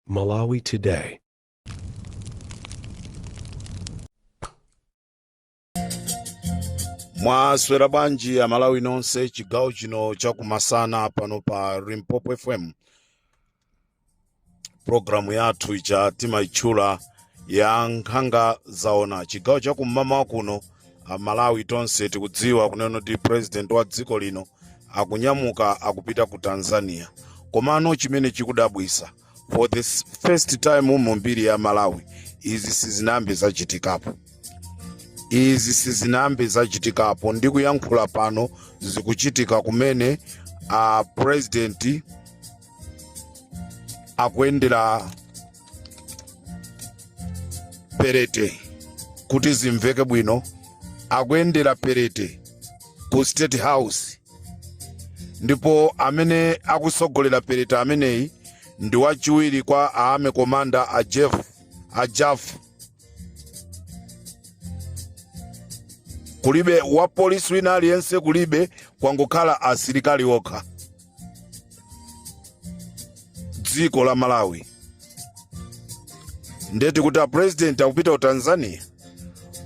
Malawi Today. mwaswera bwanji amalawi nonse chigawo chino chakumasana pano pa Limpopo FM programu yathu ija timaitchula ya Nkhanga Zaona chigawo chakum'mawa kuno amalawi tonse tikudziwa kunena kuti president wa dziko lino akunyamuka akupita ku Tanzania komano chimene chikudabwisa for the s- first time mu mbiri ya malawi izi sizinambe zachitikapo izi sizinambe zachitikapo ndi kuyankhula pano zikuchitika kumene a president akuyendera perete kuti zimveke bwino akuyendera perete ku state house ndipo amene akusogolera perete ameneyi ndi wachiwiri kwa army commander a Jafu kulibe wapolisi wina aliyense kulibe kwangokhala asilikali okha dziko la malawi ndeti kuti apurezidenti akupita ku tanzania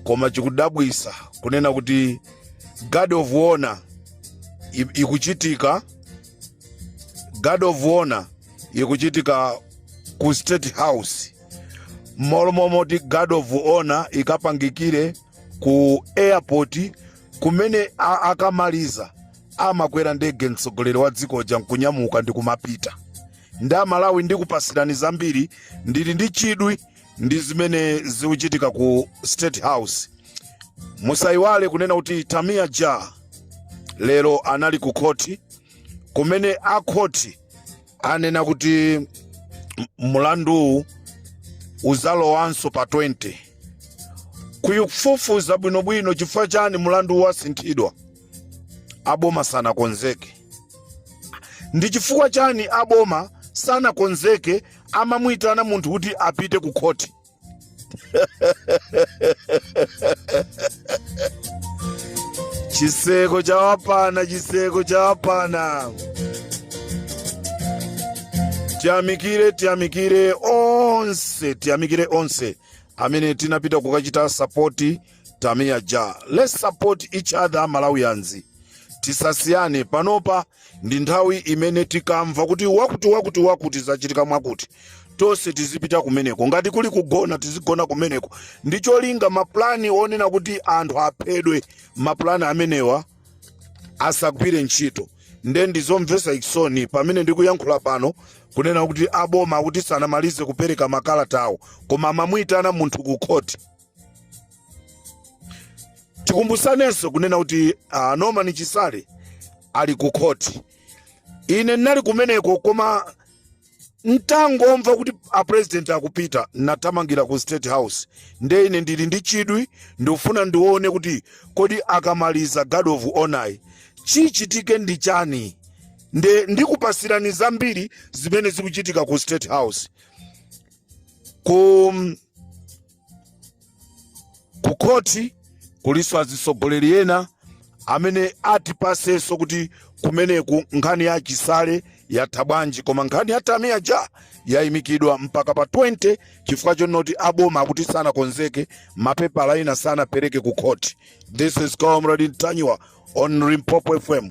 koma chikudabwisa kunena kuti guard of honor i- ikuchitika guard of honor ikuchitika ku state house mmalo momoti guard of honor ikapangikire ku airport kumene a- akamaliza amakwera ndege mtsogoleri wa dziko uja nkunyamuka ndi kumapita nde amalawi ndikupasirani zambiri ndili ndi chidwi ndi zimene zikuchitika ku state house musayiwale kunena kuti tamia ja lero anali ku khoti kumene akhoti anena kuti m- mlanduwu uzalowanso pa 20 kufufuza bwinobwino chifukwa chani mlandu wasinthidwa aboma sanakonzeke ndi chifukwa chani aboma sanakonzeke amamuyitana munthu kuti apite ku khoti chiseko chawapana chiseko chawapana tiyamikire tiyamikire onse tiyamikire onse amene tinapita kukachita sapoti Tamia Ja. Let's support each other Malawians. Tisasiyane panopa ndi nthawi imene tikamva kuti wakuti wakuti wakuti zachitika mwakuti tonse tizipita kumeneko ngati kuli kugona tizigona kumeneko ndi cholinga mapulani onena kuti anthu aphedwe mapulani amenewa asagwire ntchito nde ndizomvesa chisoni pamene ndikuyankhula pano kunena kuti aboma kuti sanamalize kupereka makalata awo koma amamuyitana munthu ku khoti tikumbusanenso kunena kuti uh, norman chisale ali ku khoti ine ndinali kumeneko koma ntangomva kuti apresident akupita nathamangira ku state house nde ine ndili ndi chidwi ndikufuna ndione kuti kodi akamaliza guard of honour chichitike ndi chani nde ndikupasirani zambiri zimene zikuchitika ku state house ku khoti kulinso azitsogoleri ena amene atipasenso kuti kumeneku nkhani ya chisale yatha bwanji koma nkhani ya tamia ja yayimikidwa mpaka pa 20 chifukwa chonoti aboma akuti sanakonzeke mapepala ena sanapereke ku khoti this is comrade ntanyiwa on limpopo fm